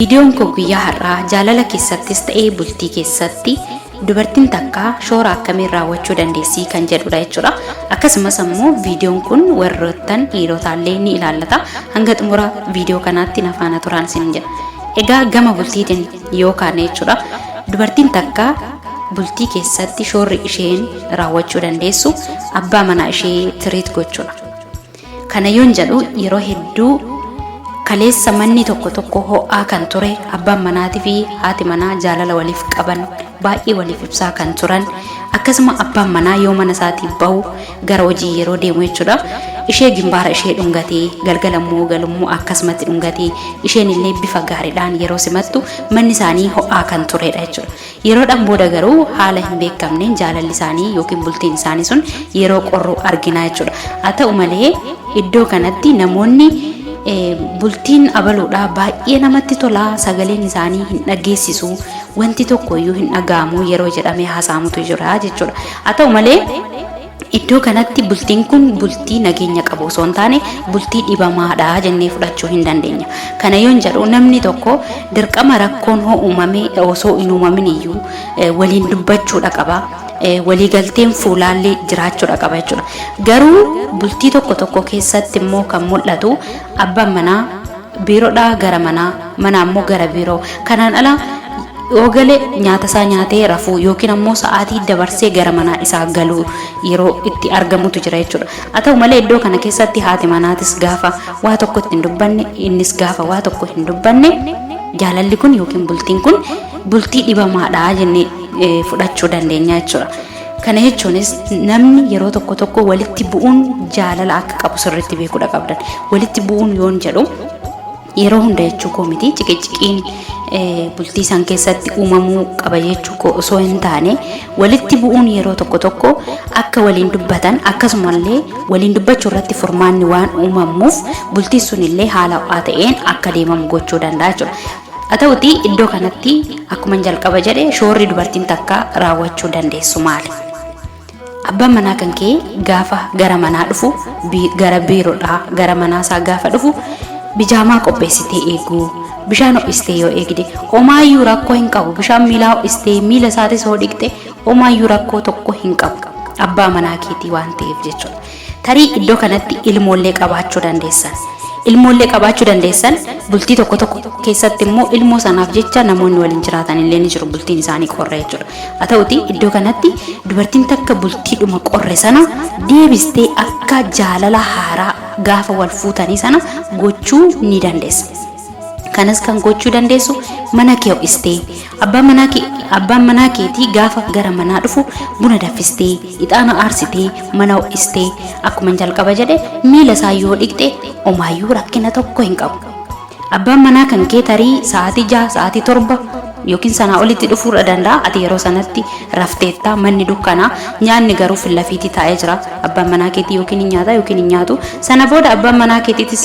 Viidiyoon koo guyyaa har'aa jaalala keessattis ta'ee bultii keessatti dubartiin takka shoora akkamiin raawwachuu dandeessii kan jedhudha jechuudha. Akkasumas ammoo viidiyoon kun warroottan dhiirotaallee ni ilaallata. Hanga xumura viidiyoo kanaatti na faana turaan isin jedha. Egaa gama bultiitiin yoo kaane jechuudha. Dubartiin takka bultii keessatti shoorri isheen raawwachuu dandeessu abbaa manaa ishee tiriit gochuudha. Kana yoon jedhu yeroo hedduu kaleessa manni tokko tokko ho'aa kan ture abbaan manaatii fi haati manaa jaalala waliif qaban baay'ee waliif ibsaa kan turan akkasuma abbaan manaa yoo mana isaatii bahu gara hojii yeroo deemu jechuudha ishee gimbaara ishee dhungatee galgala immoo galummoo akkasumatti dhungatee isheen illee bifa gaariidhaan yeroo simattu manni isaanii ho'aa kan turedha jechuudha Yeroodhaan booda garuu haala hin beekamneen jaalalli isaanii yookiin bultiin isaanii sun yeroo qorru arginaa jechuudha. Haa ta'u malee iddoo kanatti namoonni eh, bultiin abaluudha baay'ee namatti tola sagaleen isaanii hin dhageessisu wanti tokko iyyuu hin dhaga'amu yeroo jedhamee haasa'amutu jira jechuudha. Haa ta'u malee Iddoo kanatti bultiin kun bultii nageenya qabu osoo hin taane bultii dhibamaadha jennee fudhachuu hin dandeenya. Kana yoon jedhu namni tokko dirqama rakkoon hoo uumame osoo hin uumamin iyyuu eh, waliin dubbachuudha qaba. Eh, Waliigalteen fuulaallee jiraachuudha qaba jechuudha. Garuu bultii tokko tokko keessatti immoo kan mul'atu abbaan manaa biirodhaa gara manaa, manaa immoo gara biiroo. Kanaan ala yoo gale nyaata isaa nyaatee rafuu yookiin ammoo sa'aatii dabarsee gara manaa isaa galuu yeroo itti argamutu jira jechuudha. Haa ta'u malee iddoo kana keessatti haati manaatis gaafa waa tokko itti hin dubbanne, innis gaafa waa tokko hin dubbanne jaalalli kun yookiin bultiin kun bultii dhibamaadha jennee eh, fudhachuu dandeenya jechuudha. Kana jechuunis namni yeroo tokko tokko walitti bu'uun jaalala akka qabu sirriitti beekuudha qabdan. Walitti bu'uun yoon jedhu yeroo hunda jechuu koo miti ciqiciqiin eh, bultii isaan keessatti uumamuu qaba jechuu koo osoo hin taane walitti bu'uun yeroo tokko tokko akka waliin dubbatan akkasumallee waliin dubbachuu irratti furmaanni waan uumamuuf bultiin sun illee haala ho'aa ta'een akka deemamu gochuu danda'a jechuudha. Haa ta'uutii iddoo kanatti akkuman jalqaba jedhe shoorri dubartiin takka raawwachuu dandeessu maali? Abbaan manaa kan kee gaafa gara manaa dhufu bi- gara biirodhaa gara manaa isaa gaafa dhufu bijaamaa qopheessitee eeguu bishaan ho'istee yoo eegde omaayyuu rakkoo hin qabu bishaan miilaa ho'istee miila isaatis hoo dhiqxe omaayyuu rakkoo tokko hin qabu abbaa manaa keetii waan ta'eef jechuudha. Tarii iddoo kanatti ilmoollee qabaachuu dandeessan. Ilmoollee qabaachuu dandeessan bultii tokko tokko keessatti immoo ilmoo sanaaf jecha namoonni waliin jiraatan illee ni jiru bultiin isaanii qorra jechuudha. Haa ta'uti iddoo kanatti dubartiin takka bultiidhuma qorre sana deebistee akka jaalala haaraa gaafa wal fuutanii sana gochuu ni dandeessa. Kanas kan gochuu dandeessu mana kee ho'istee abbaan manaa kee abbaan manaa keetii gaafa gara manaa dhufu buna daffistee ixaana aarsitee mana ho'istee akkuma jalqaba jedhe miila isaa yoo dhiqxe omaayyuu rakkina tokko hin qabu. Abbaan manaa kan kee tarii sa'aatii jaha sa'aatii torba yookiin sanaa olitti dhufuudha danda'a ati yeroo sanatti rafteetta manni dukkanaa nyaanni garuu fillafiitii taa'ee jira abbaan manaa keetii yookiin hin nyaata yookiin hin nyaatu sana booda abbaan manaa keetiitis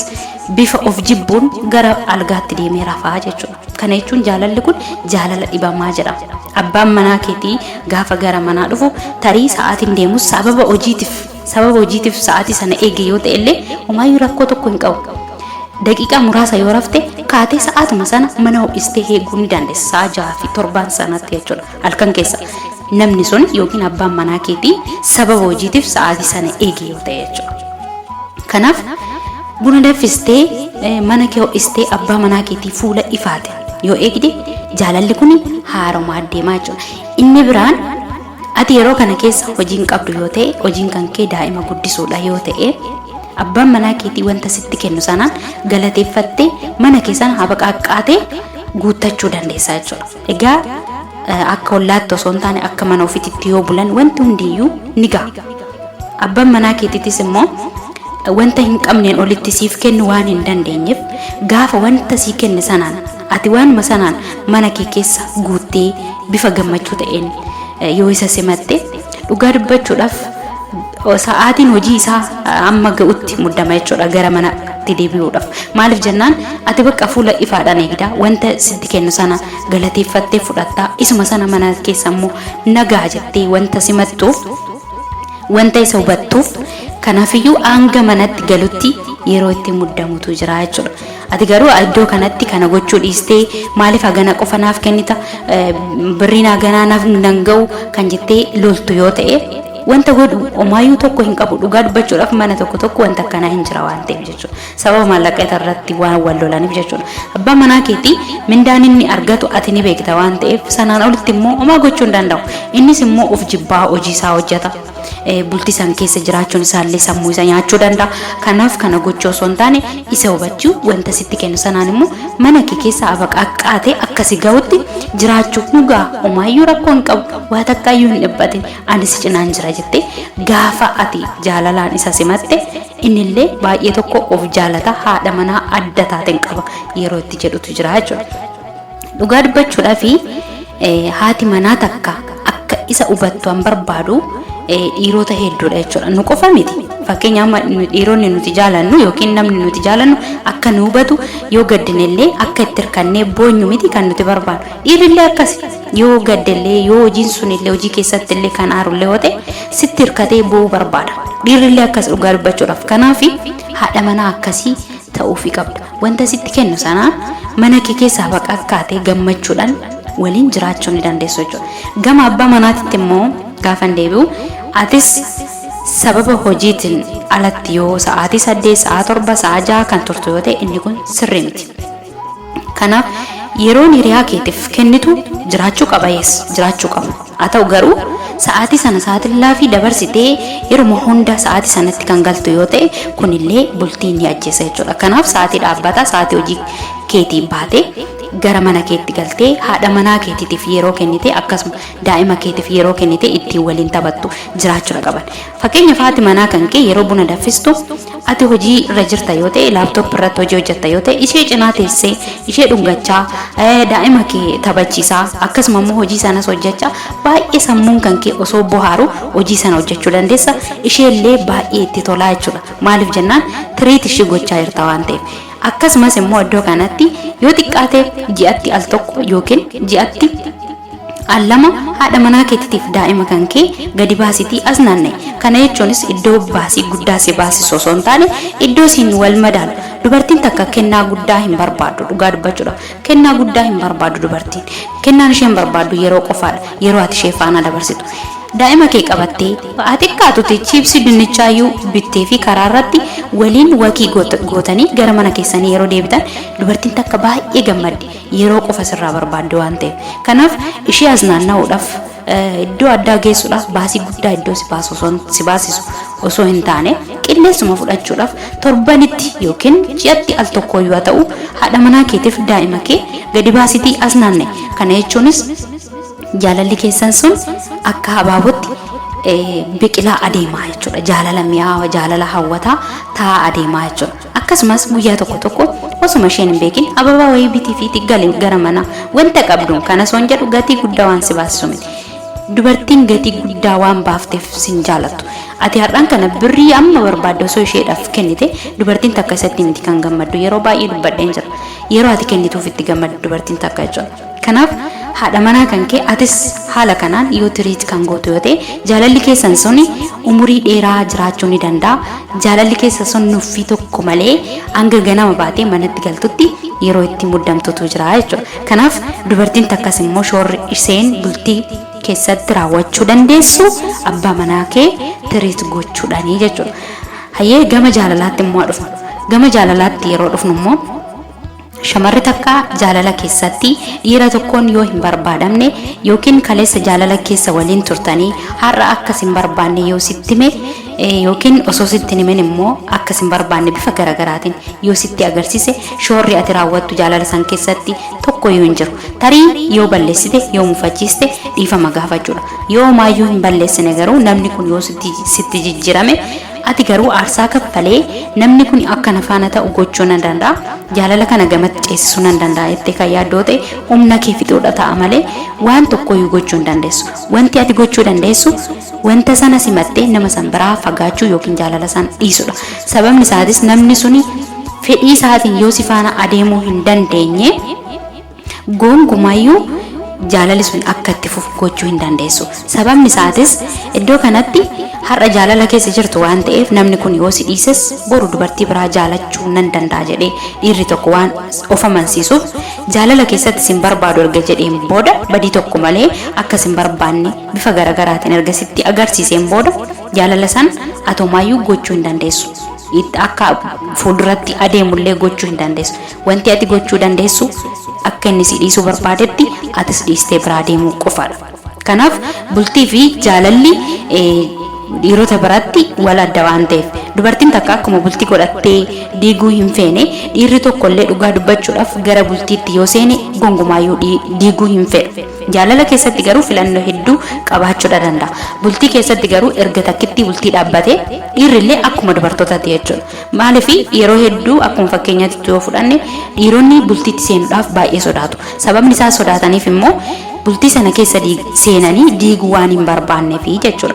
bifa of jibbuun gara algaatti deemee rafaa jechuudha. Kana jechuun jaalalli kun jaalala dhibamaa jedhama. Abbaan manaa keetii gaafa gara manaa dhufu tarii sa'aatiin deemus sababa hojiitiif sababa hojiitiif sa'aatii sana eege yoo ta'e illee homaayyuu rakkoo tokko hin qabu. Daqiiqaa muraasa yoo rafte kaatee sa'aatuma sana mana ho'istee eeguu ni dandeessa sa'a jaha fi torbaan sanatti jechuudha. Halkan keessa namni sun yookiin abbaan manaa keetii sababa hojiitiif sa'aatii sana eegi yoo ta'e jechuudha. Kanaaf buna danfistee eh, mana kee ho'istee abbaa manaa keetii fuula ifaate yoo eegde jaalalli kun haaromaa deemaa jechuudha. Inni biraan ati yeroo kana keessa hojiin qabdu yoo ta'e hojiin kan kee daa'ima guddisuudha yoo ta'e abbaan manaa keetii wanta sitti kennu sanaan galateeffattee mana kee sana habaqa haqqaatee guuttachuu dandeessa jechuudha. Egaa akka ollaatti osoo hin taane akka mana ofititti yoo bulan wanti hundiyyuu ni ga'a. Abban manaa keetitis immoo wanta hin qabneen olitti siif kennu waan hin dandeenyeef gaafa wanta sii kenne sanaan ati waanuma sanaan mana kee keessa guuttee bifa gammachuu ta'een yoo isa simatte Dhugaa dubbachuudhaaf sa'aatiin hojii isaa amma ga'utti muddama jechuudha gara manatti deebi'uudhaaf. Maaliif jennaan ati bakka fuula ifaadhaan eegda wanta sitti kennu sana galateeffattee fudhatta isuma sana mana keessa immoo nagaa jettee wanta simattuuf wanta isa hubattuuf kanaafiyyuu hanga manatti galutti yeroo itti muddamutu jira jechuudha. Ati garuu iddoo kanatti kana gochuu dhiistee maaliif hagana qofa naaf kennita birriin haganaa naaf nan ga'u kan jettee loltu yoo ta'e wanta godhu omaayyuu tokko hin qabu dhugaa dubbachuudhaaf mana tokko tokko wanta akkanaa hin jira waan ta'eef jechuudha sababa maallaqa irratti waan wal lolaniif jechuudha abbaa manaa keetii mindaan inni argatu ati ni beekta waan ta'eef sanaan olitti immoo omaa gochuu hin danda'u innis immoo of jibbaa hojii isaa hojjeta bultii san keessa jiraachuun isaallee sammuu isa nyaachuu danda'a. Kanaaf kana gochuu osoo hin taane isa hubachuu wanta sitti kennu sanaan immoo mana kee keessa abaqaqqaatee akka si gahutti jiraachuu nu gaha. Omaayyuu rakkoo hin qabu. Waa takkaayyuu hin dhiphatin. Ani si cinaan jira jettee gaafa ati jaalalaan isa simatte innillee baay'ee tokko of jaalata haadha manaa adda taateen qaba yeroo itti jedhutu jira jechuudha. Dhugaa dubbachuudhaafi haati manaa takka akka isa hubattu an barbaadu dhiirota hedduudha jechuudha. Nu qofa miti. Fakkeenya amma dhiironni nuti jaalannu yookiin namni nuti jaalannu akka nu hubatu yoo gaddinellee akka itti hirkannee boonyu miti kan nuti barbaadu. Dhiirrillee akkasi. Yoo gaddellee yoo hojiin sunillee hojii keessatti illee kan aarullee yoo ta'e sitti hirkatee boo'uu barbaada. Dhiirrillee akkas dhugaa dubbachuudhaaf. Kanaaf haadha manaa akkasii ta'uufii qabda. Wanta sitti kennu sana mana kee keessaa baqakkaatee gammachuudhaan waliin jiraachuu ni dandeessu jechuudha. Gama abbaa manaatitti immoo gaafa hin deebi'u atis sababa hojiitiin alatti yoo sa'aatii saddeet, sa'aa torba, sa'aa ja'a kan turtu yoo ta'e inni kun sirrii miti. Kanaaf yeroon hiriyaa keetiif kennitu jiraachuu qaba yes jiraachuu qaba. Haa ta'u garuu, sa'aatii sana saaxillaafii dabarsitee yeruma hunda sa'aatii sanatti kan galtu yoo ta'e, kun illee bultii ni ajjeesa jechuudha. Kanaaf sa'aatii dhaabbataa, sa'aatii hojii keetiin baatee gara mana keetti galtee haadha manaa keetiitiif yeroo kennitee akkasuma daa'ima keetiif yeroo kennitee ittiin waliin taphattu jiraachudha qaban. Fakkeenyaaf haati manaa kan kee yeroo buna danfistu ati hojii irra jirta yoo ta'e laaptooppi irratti hojii hojjetta yoo ta'e ishee cinaa teessee ishee dhungachaa eh, daa'ima kee taphachiisaa akkasuma immoo hojii sanas hojjechaa baay'ee sammuun kan kee osoo bohaaru hojii sana hojjechuu dandeessa isheellee baay'ee itti tolaa jechuudha maaliif jennaan tiriit ishii gochaa jirta waan ta'eef akkasumas immoo iddoo kanatti yoo xiqqaate ji'atti al tokko yookiin ji'atti Al 2, Haadha manaa keetitiif daa'ima kan kee gadi baasitii as naanna'i. Kana jechuunis iddoo baasii guddaa si baasisu osoo hin taane, iddoo siin wal madaalu. Dubartiin takka kennaa guddaa hin barbaaddu, dhugaa dubbachuudhaaf. Kennaa guddaa hin barbaaddu dubartiin. Kennaan isheen barbaaddu yeroo qofaadha, yeroo ati ishee faana dabarsitu. Daa'ima kee qabattee, haa xiqqaatuti chiipsii dinnichaayyuu bitteefii karaa irratti waliin wakii gootanii gara mana keessanii yeroo deebitan dubartiin takka baay'ee gammaddi. yeroo qofa sirraa barbaaddi waan ta'eef. Kanaaf ishee as naanna'uudhaaf eh, iddoo addaa geessuudhaaf baasii guddaa iddoo si baasu osoo hin- si baasisu osoo hin taane qilleensuma fudhachuudhaaf torbanitti yookiin ji'atti al tokkoo yoo ta'u haadha manaa keetiif daa'ima kee gadi baasitii as naanne kana jechuunis jaalalli keessan sun akka habaabotti eh, biqilaa adeemaa jechuudha jaalala mi'aawa jaalala hawwataa taa'aa adeemaa jechuudha Akkasumas guyyaa tokko tokko osuma isheen hin beekin ababaa wayii bitiifiiti gali gara manaa wanta qabduun kana soon jedhu gatii guddaa waan si baasisu miti. Dubartiin gatii guddaa waan baafteef sin jaalattu. Ati har'aan kana birrii amma barbaadde osoo isheedhaaf kennite dubartiin takka isatti miti kan gammaddu yeroo baay'ee dubbadheen jira. Yeroo ati kennituuf itti gammaddu dubartiin takka jechuudha. Kanaaf haadha manaa kan kee atis haala kanaan yoo treat kan gootu yoo ta'e jaalalli keessan sun umurii dheeraa jiraachuu ni danda'a. Jaalalli keessa sun nuffii tokko malee hanga ganama baatee manatti galtutti yeroo itti muddamtutu jira jechuudha. Kanaaf dubartiin takkas immoo shoorri isheen bultii keessatti raawwachuu dandeessu abbaa manaa kee treat gochuudhaani jechuudha. Hayyee gama jaalalaatti immoo haa dhufnu. Gama jaalalaatti yeroo dhufnu immoo Shamarri takka jaalala keessatti dhiira tokkoon yoo hin barbaadamne yookiin kaleessa jaalala keessa waliin turtanii har'a akka sin barbaanne yoo sitti hime eh, yookiin osoo sitti hin himin immoo akka sin barbaanne bifa garaagaraatiin yoo sitti agarsiise shoorri ati raawwattu jaalala san keessatti tokko yoo hin jiru tarii yoo balleessite yoo mufachiiste dhiifama gaafachuudha yoo maayyuu hin balleessine garuu namni kun yoo sitti sitti jijjiirame Ati garuu aarsaa kaffalee namni kuni akka na faana ta'u gochuu nan danda'a, jaalala kana gamatti ceesisuu nan danda'a jettee kan yaaddoo ta'e humna kee fixuudha ta'a malee waan tokkoyyuu gochuu hin dandeessu. Wanti ati gochuu dandeessu wanta sana simattee nama san biraa fagaachuu ykn jaalala san dhiisudha. Sababni isaatis namni suni fedhii isaatiin yoo si faana adeemuu hin dandeenye, Goongumayyuu jaalalli sun akka itti fufu gochuu hin dandeessu. Sababni isaatis iddoo kanatti har'a jaalala keessa jirtu waan ta'eef namni kun yoo si dhiises boru dubartii biraa jaalachuu nan danda'a jedhee dhiirri tokko waan of amansiisuuf jaalala keessatti sin barbaadu erga jedheen booda badii tokko malee akka sin barbaanne bifa garagaraatiin erga sitti agarsiiseen booda jaalala san atomaayyuu gochuu hin dandeessu. Itti akka fuulduratti adeemullee gochuu hin dandeessu. Wanti ati gochuu dandeessu, akka inni si dhiisuu barbaadetti atis dhiistee biraa deemuu qofa dha. Kanaaf, bultii fi jaalalli dhiirota biratti wal adda waan ta'eef, dubartiin takka akkuma bultii godhattee diiguu hin feene, dhiirri tokko illee dhugaa dubbachuudhaaf gara bultiitti yoo seene gongumaa iyyuu diiguu hin fedhu. Jaalala keessatti garuu filannoo hedduu qabaachuudha danda'a. Bultii keessatti garuu erga takkittii bultii dhaabbatee, dhiirri illee akkuma dubartootaati jechuudha. Maaliif yeroo hedduu akkuma fakkeenyaatti yoo fudhanne dhiironni bultiitti seenuudhaaf baay'ee sodaatu. Sababni isaa sodaataniif immoo bultii sana keessa seenanii diiguu waan hin barbaanneefi jechuudha.